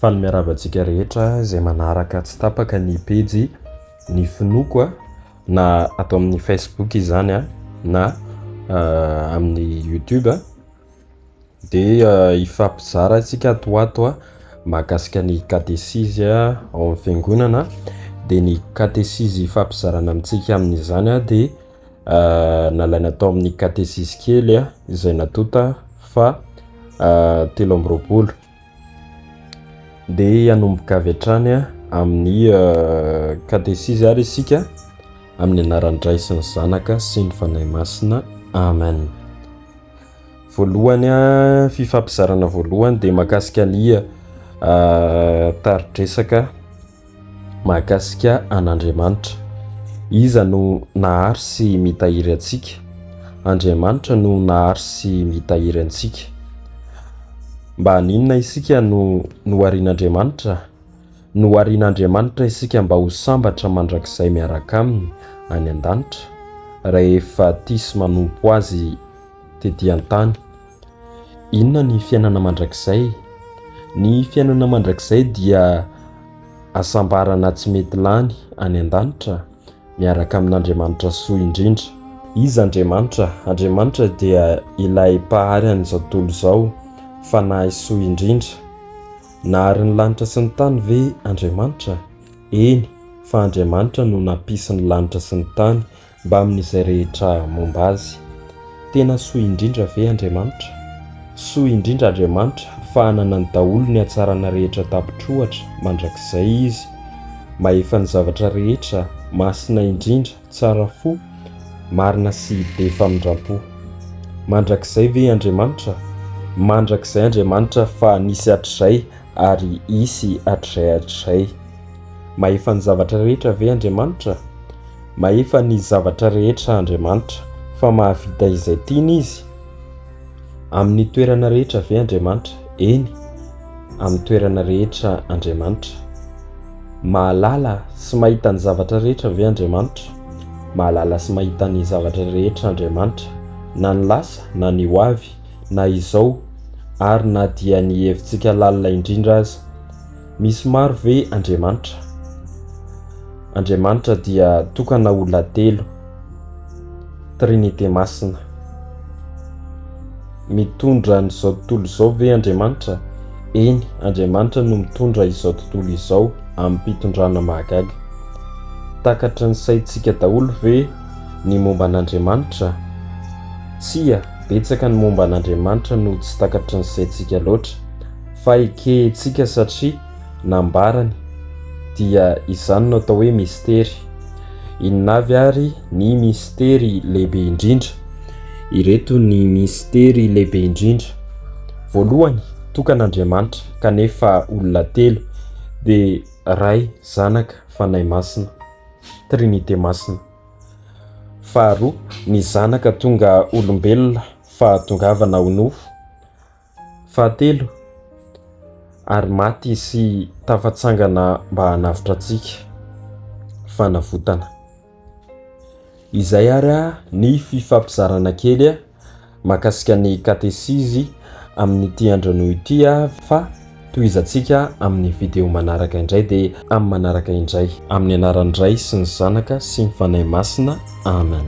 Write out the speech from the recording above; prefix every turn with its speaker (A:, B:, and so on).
A: Faly miarahaba antsika rehetra izay manaraka tsy tapaka ny pejy ny finoako a na ato amin'ny facebook izany a na euh, amin'ny youtube a dia euh, hifampizara antsika ato ho ato a mahakasika ny katesizy a ao amin'ny fiangonana dia ny katesizy hifampizarana amintsika amin'izany a dia nalaina tao amin'ny katesisy kely izay natonta fa telo amby roapolo dia hanomboka avy hatrany amin'ny katesisy ary isika amin'ny anaran'ny Ray sy ny Zanaka sy ny Fanahy Masina amen voalohany fifampizarana voalohany dia makasika ny taridresaka Mahakasika an'Andriamanitra. Iza no nahary sy mitahiry antsika? Andriamanitra no nahary sy mitahiry antsika. Mba haninona isika no noharian'Andriamanitra? Noharian'Andriamanitra isika mba ho sambatra mandrakizay miaraka aminy any an-danitra, rehefa tia sy manompo azy tetỳ an-tany. Inona ny fiainana mandrakizay? Ny fiainana mandrakizay dia hasambarana tsy mety lany any an-danitra miaraka amin'Andriamanitra soa indrindra. Iza Andriamanitra? Andriamanitra dia ilay Mpahary an'izao tontolo izao, Fanahy soa indrindra. Nahary ny lanitra sy ny tany ve Andriamanitra? Eny, fa Andriamanitra no nampisy ny lanitra sy ny tany. Mbamin'izay rehetra momba azy. Tena soa indrindra ve Andriamanitra? Soa indrindra Andriamanitra fa ananany daholo ny hatsarana rehetra tapitr'ohatra, mandrakizay Izy, mahefa ny zavatra rehetra, masina indrindra, tsara fo, marina sy be famindram-po. Mandrakizay ve Andriamanitra? Mandrakizay Andriamanitra fa nisy hatrizay ary hisy hatrizay hatrizay. Mahefa ny zavatra rehetra ve Andriamanitra? Mahefa ny zavatra rehetra Andriamanitra, fa mahavita izay tiany Izy. Amin'ny toerana rehetra ve Andriamanitra? Eny, amin'ny toerana rehetra Andriamanitra. Mahalala sy mahita ny zavatra rehetra ve Andriamanitra? Mahalala sy mahita ny zavatra rehetra Andriamanitra, na ny lasa na ny ho avy, na izao, ary na dia ny hevitsika lalina indrindra aza. Misy maro ve Andriamanitra? Andriamanitra dia tokana olona telo, Trinite Masina. Mitondra an'izao tontolo izao ve Andriamanitra? Eny, Andriamanitra no mitondra izao tontolo izao amim-pitondrana mahagaga. Takatry ny saintsika daholo ve ny momba an'Andriamanitra? Tsia, betsaka ny momba an'Andriamanitra no tsy takatry ny saintsika loatra. Fa ekehintsika satria nambarany dia izany no atao hoe mistery. Inona avy ary ny mistery lehibe indrindra? Ireto ny mistery lehibe indrindra. Voalohany, tokan'Andriamanitra kanefa olona telo, dia Ray, Zanaka, Fanahy Masina, Trinite Masina. Faharoa, ny Zanaka tonga olombelona, fahatongavana ho nofo, Fahatelo, Ary maty Izy tafatsangana mba hanavotra antsika. Fanavotana. Izay ary ny fifampizarana kely mahakasika ny katesizy amin'ity andron'io ity fa. Tohizantsika amin'ny video manaraka indray dia amin'ny manaraka indray. Amin'ny anaran'ny Ray sy ny Zanaka sy ny Fanahy Masina. Amen.